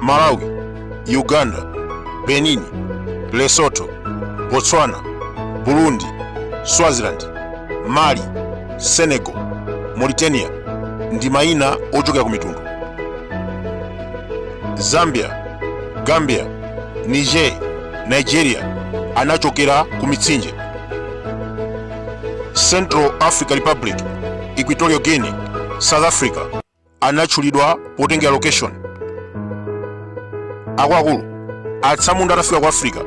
malawi uganda benin lesotho botswana burundi swaziland mali senegal mauritania ndi mayina ochokera ku mitundu zambia gambia niger nigeria anachokera ku mitsinje central africa republic equatorial guinea south africa anatchulidwa potengera location akuluakulu atsamunda atafika ku africa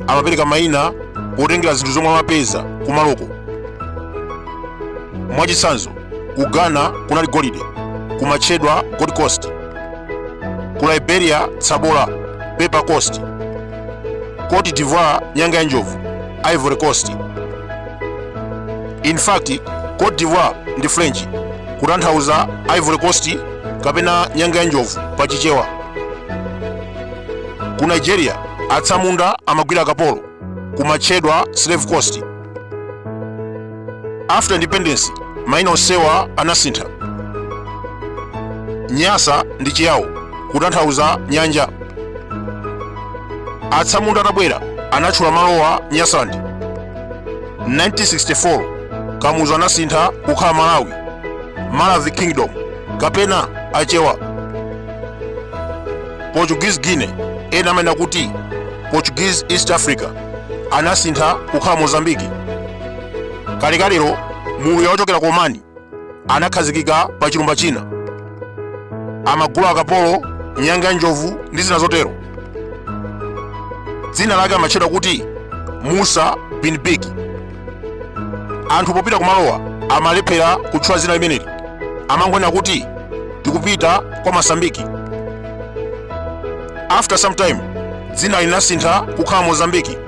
amapereka mayina potengera zinthu zomwe amapeza kumaloko mwachitsanzo ku ghana kunali golide kumatchedwa gold coast ku liberia tsabola pepper coast cote d'ivoire nyanga ya njovu ivory coast in fact cote d'ivoire ndi french kutanthauza ivory coast kapena nyanga ya njovu pa chichewa ku nigeria atsamunda amagwira akapolo kumatchedwa slave coast after independence maina onsewa anasintha nyasa ndi chiyawo kutanthauza nyanja atsamunda atabwera anatchula malowa nyasaland 1964 kamuzu anasintha kukhala malawi maravi kingdom kapena achewa portuguese guinea ena amanena kuti portuguese east africa anasintha kukhala mozambiki kalekalero mluya wochokera ku omani anakhazikika pa chilumba china amagula akapolo nyanga ya njovu ndi zina zotero dzina lake amatchedwa kuti musa bin bik anthu popita kumalowa amalephera kutchula zina limeneli amangonena kuti tikupita kwa masambiki after some time dzina linasintha kukhala mozambiki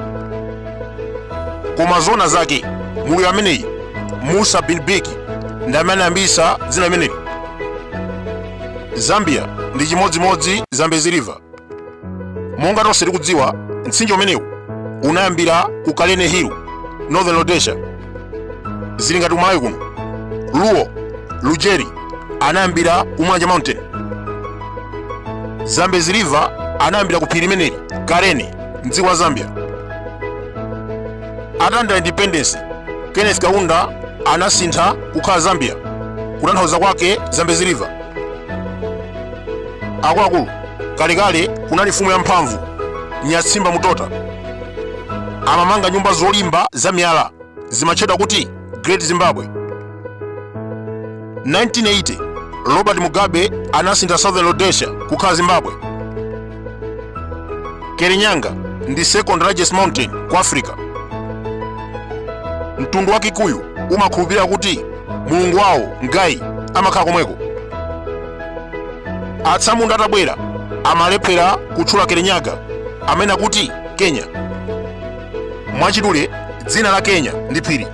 koma zona zake mluya ameneyi musa bin biki ndi amene anayambisa dzina limeneli zambia ndi chimodzimodzi zambezi river monga tonse tikudziwa mtsinje umenewu unayambira ku kalene hill northern rhodesia zili ngati kumalawi kuno ruo lujeri anayambira ku mulanje mountain zambezi river anayambira ku phiri limeneli kalene mdziko la zambia atalandira independence kenneth kaunda anasintha kukhala zambia kutanthauza kwake zambezi river akuluakulu kalekale kunali mfumu yamphamvu nyatsimba mutota amamanga nyumba zolimba za miyala zimatchedwa kuti great zimbabwe 1980 robert mugabe anasintha southern rhodesia kukhala zimbabwe kerinyanga ndi second largest mountain ku africa mtundu wa kikuyu umakhulupirira kuti mulungu wawo ngai amakhala komweko atsamunda atabwera amalephera kutchula kerenyaga amanena kuti kenya mwachidule dzina la kenya ndi phiri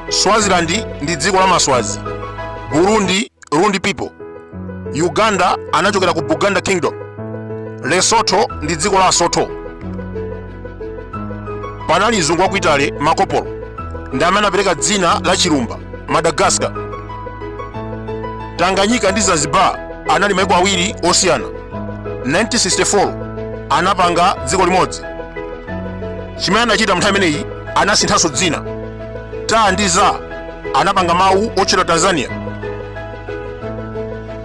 swazilandi ndi dziko la maswazi burundi Rundi people, Uganda anachokera ku Buganda Kingdom, Lesotho ndi dziko la Asotho. Panali mzungu wa ku Italy Marco Polo ndi amene anapereka dzina la chilumba Madagascar. Tanganyika ndi Zanzibar anali maiko awiri osiyana. 1964 anapanga dziko limodzi. Chimene anachita mnthawi imeneyi anasinthanso dzina. ta ndi za anapanga mawu otchedwa tanzania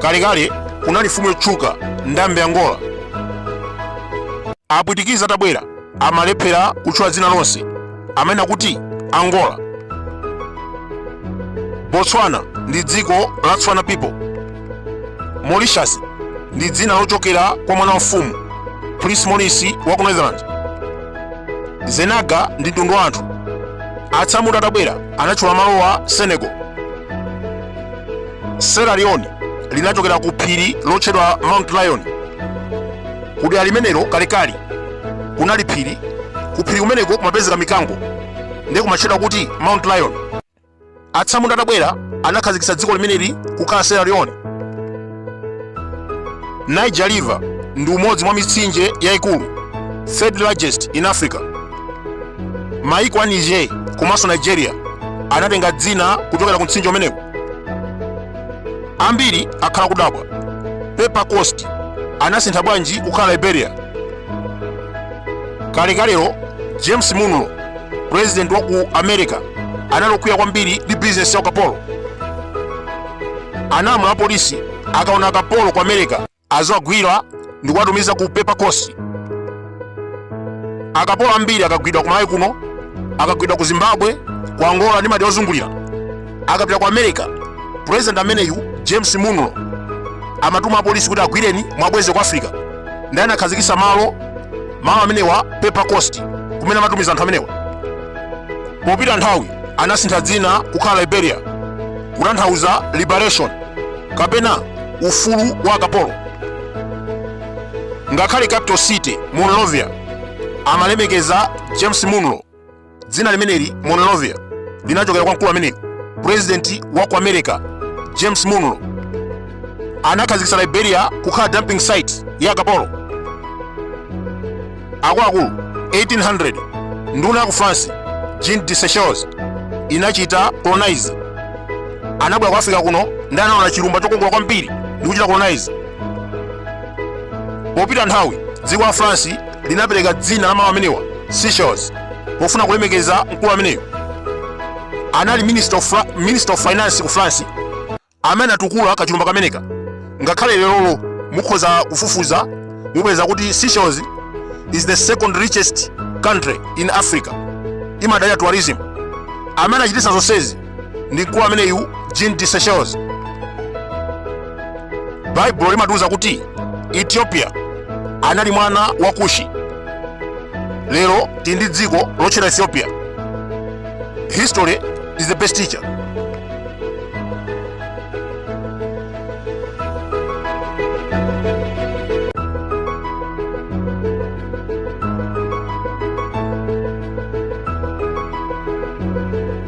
kalekale kunali mfumu yotchuka ndambe angola apwitikizi atabwera amalephera kutchula dzina lonse amanena kuti angola botswana ndi dziko la tswana people Mauritius ndi dzina lochokera kwa mwana wa mfumu Prince Maurice wa ku Netherlands. Zenaga ndi mtundu wa anthu atsamunda atabwera anatchula malowa Senegal. Sierra Leone linachokera ku phiri lotchedwa Mount Lion. Ku dera limenelo kalekale kunali phiri, ku phiri kumeneko kumapezeka mikango ndiye kumatchedwa kuti Mount Lion. atsamunda atabwera anakhazikitsa dziko limeneli kukhala sierra leone niger river ndi umodzi mwa mitsinje yayikulu third largest in africa maiko a niger komanso nigeria anatenga dzina kuchokera ku mtsinje umenewu ambiri akhala akudabwa pepper coast anasintha bwanji kukhala liberia kalekalero james monroe president wa ku america anali okwiya kwambiri ndi bizinesi ya ukapolo analamula apolisi akaona akapolo ku america aziwagwira ndi kuwatumiza ku pepper coast akapolo ambiri akagwidwa ku malawi kuno akagwidwa ku zimbabwe ku angola ndi madera ozungulira akapita ku america president ameneyu james monroe amatuma apolisi kuti agwireni mwabweze ku africa ndiye anakhazikisa malo malo amenewa pepper coast kumene amatumiza anthu amenewa popita nthawi anasintha dzina kukhala liberia kutanthauza liberation kapena ufulu wa akapolo ngakhale capital city monrovia amalemekeza james monroe dzina limeneli monrovia linachokera kwa mkulu ameneyu purezidenti wa ku america james monroe anakhazikitsa liberia kukhala dumping site ya akapolo akuluakulu 1800 nduna ya ku france jean de seychelles inachita colonize anabwera ku africa kuno ndi anaona chilumba chokongola kwambiri ndi kuchita colonize popita nthawi dziko la france linapereka dzina la malo amenewa seychelles pofuna kulemekeza mkulu ameneyo anali minister of finance ku france amene anatukula kachilumba kameneka ngakhale lerolo mukhoza kufufuza mupeza kuti seychelles is the second richest country in africa imadalira tourism amene achititsa zonsezi ndi mkulu ameneyu jean de seychelles baibulo limatiuza kuti ethiopia anali mwana wa kushi lero tili ndi dziko lotchedwa ethiopia history is the best teacher